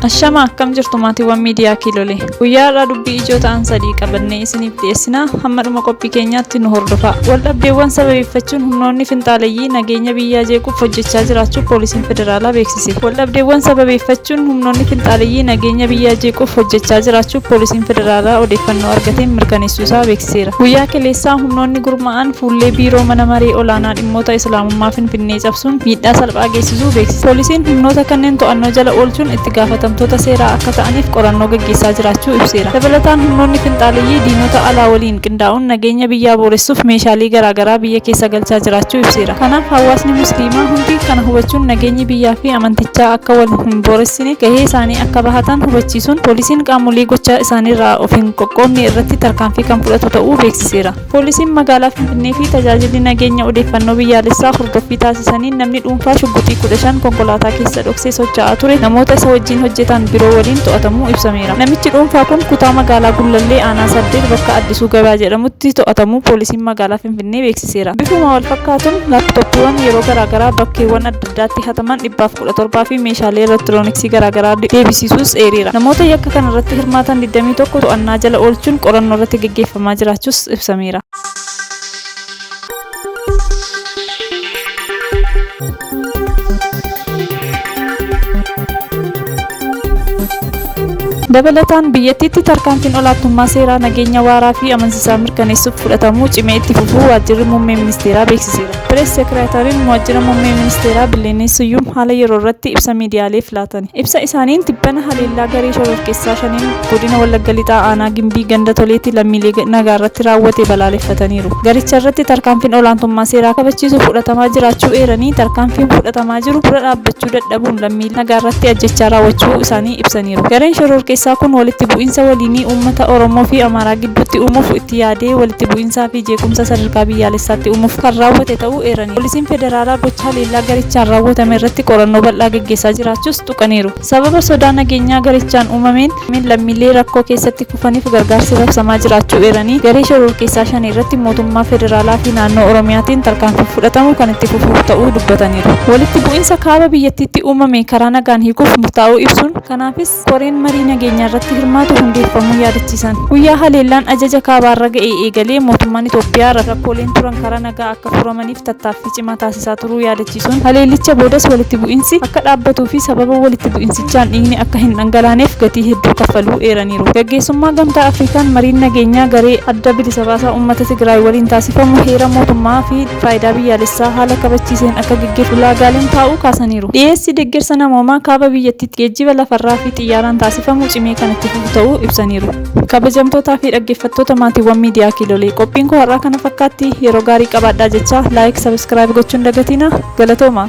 Ashama akkam jirtu maatiiwwan miidiyaa kiilolee guyyaa irraa dubbii ijoo ta'an sadii qabannee isiniif dhiyeessina hamma dhuma qophii keenyaatti nu hordofaa waldhabdeewwan sababeeffachuun humnoonni finxaaleyyii nageenya biyyaa jeequuf hojjechaa jiraachuu poolisiin federaalaa beeksisa. gaddise. Waldhabdeewwan sababeeffachuun humnoonni finxaaleyyii nageenya biyyaa jeequuf hojjechaa jiraachuu poolisiin federaalaa odeeffannoo argateen mirkaneessuu isaa beeksiseera. Guyyaa keleessaa humnoonni gurmaa'an fuullee biiroo mana maree olaanaa dhimmoota Islaamummaa Finfinnee cabsuun miidhaa salphaa geessisuu beeksise. Poolisiin humnoota kanneen to'annoo jala oolchuun itti gaafatamtoota seeraa akka ta'aniif qorannoo gaggeessaa jiraachuu ibseera. Dabalataan humnoonni finxaaleyyii diinota alaa waliin qindaa'uun nageenya biyyaa booressuuf meeshaalee garaagaraa biyya keessa galchaa jiraachuu ibseera. Kanaaf hawaasni musliimaa hundi kana hubachuun nageenyi biyyaa fi amantichaa akka wal hin booressine gahee isaanii akka bahatan hubachiisuun poolisiin qaamolee gochaa isaaniirraa of hin qoqqoodne irratti tarkaanfii kan fudhatu ta'uu beeksiseera. Poolisiin magaalaa Finfinnee fi tajaajilli nageenya odeeffannoo biyyaalessaa hordoffii taasisanii Poolisiin namni dhuunfaa shugguxii 15 konkolaataa keessa dhoksee socha'aa ture namoota isa wajjiin hojjetaan biroo waliin to'atamuu ibsameera. Namichi dhuunfaa kun kutaa magaalaa Gullallee aanaa 8 bakka Addisuu Gabaa jedhamutti to'atamuu poolisiin magaalaa Finfinnee beeksiseera. Bifuma walfakkaatuun laaptooppiiwan yeroo garaagaraa bakkeewwan adda addaatti hataman 117 fi meeshaalee elektirooniksii garaagaraa deebisiisuus eereera. Namoota yakka kanarratti hirmaatan 21 to'annaa jala oolchuun qorannoorratti geggeeffamaa jiraachuus ibsameera. Dabalataan biyyattiitti tarkaanfiin olaantummaa seeraa nageenya waaraa fi amansiisaa mirkaneessuuf fudhatamuu cimee itti fufuu waajjirri muummee ministeeraa beeksiseera. Pirees seekreetariin waajjira muummee ministeeraa Billeenee Siyyuum haala yeroo irratti ibsa miidiyaaleef laatan. Ibsa isaaniin tibbana haleellaa garee shororkeessaa shaneen godina Wallagga Lixaa aanaa Gimbii ganda Toleetti lammiilee nagaa irratti raawwate balaaleffataniiru. Garicha irratti tarkaanfiin olaantummaa seeraa kabachiisu fudhatamaa jiraachuu eeranii, tarkaanfiin fudhatamaa jiru dura dhaabbachuu dadhabuun lammiilee nagaa irratti ajjeechaa raawwachuu isaanii ibsaniiru. Gareen shororkeessaa kun walitti bu'iinsa waliinii uummata Oromoo fi Amaaraa gidduutti uumuuf itti yaadee walitti bu'iinsaa fi jeequmsa sadarkaa biyyaalessaatti uumuuf kan raawwate ta'uu eeraniiru. Poolisiin Federaalaa gocha haleellaa garichaan raawwatame irratti qorannoo bal'aa gaggeessaa jiraachuus tuqaniiru. Sababa sodaa nageenyaa garichaan uumameen lammiilee rakkoo keessatti kufaniif gargaarsi raabsamaa jiraachuu eeranii, garee shororkeessaa Shanee irratti mootummaa Federaalaa fi Naannoo Oromiyaatiin tarkaanfiin fudhatamu kan itti fufuuf ta'uu dubbataniiru. Walitti bu'insa Kaaba biyyattiitti uumame karaa nagaan hiikuuf murtaa'uu ibsuun, kanaafis, Koreen marii nageenyaarratti hirmaatu hundeeffamuu yaadachiisan. Guyyaa haleellaan ajaja kaabaarra ga'ee eegalee mootummaan Itoophiyaa rakkooleen turan karaa nagaa akka furamaniif tattaaffii cimaa taasisaa turuu yaadachiisuun, haleellicha boodas walitti bu'iinsi akka dhaabbatuu fi sababa walitti bu'iinsichaan dhiigni akka hin dhangalaaneef gatii hedduu kaffaluu eeraniiru. Gaggeessummaa Gamtaa Afrikaan mariin nageenyaa garee Adda Bilisa Baasaa Uummata Tigraay waliin taasifamu heera mootummaa fi faayidaa biyyaalessaa haala kabachiiseen akka geggeeffamu ulaagaaleen taa'uu kaasaniiru. Dhiyeessi deggersa namoomaa kaaba biyyattiitti geejjiba lafarraa fi xiyyaaraan taasifamu cimee kan itti fufu ta'uu ibsaniiru. Kabajamtootaa fi dhaggeeffattoota maatiiwwan miidiyaa Kiilolee, qophiin koo har'aa kana fakkaatti, yeroo gaarii qabaadhaa jechaa, like, subscribe gochuun dagatinaa. Galatoomaa!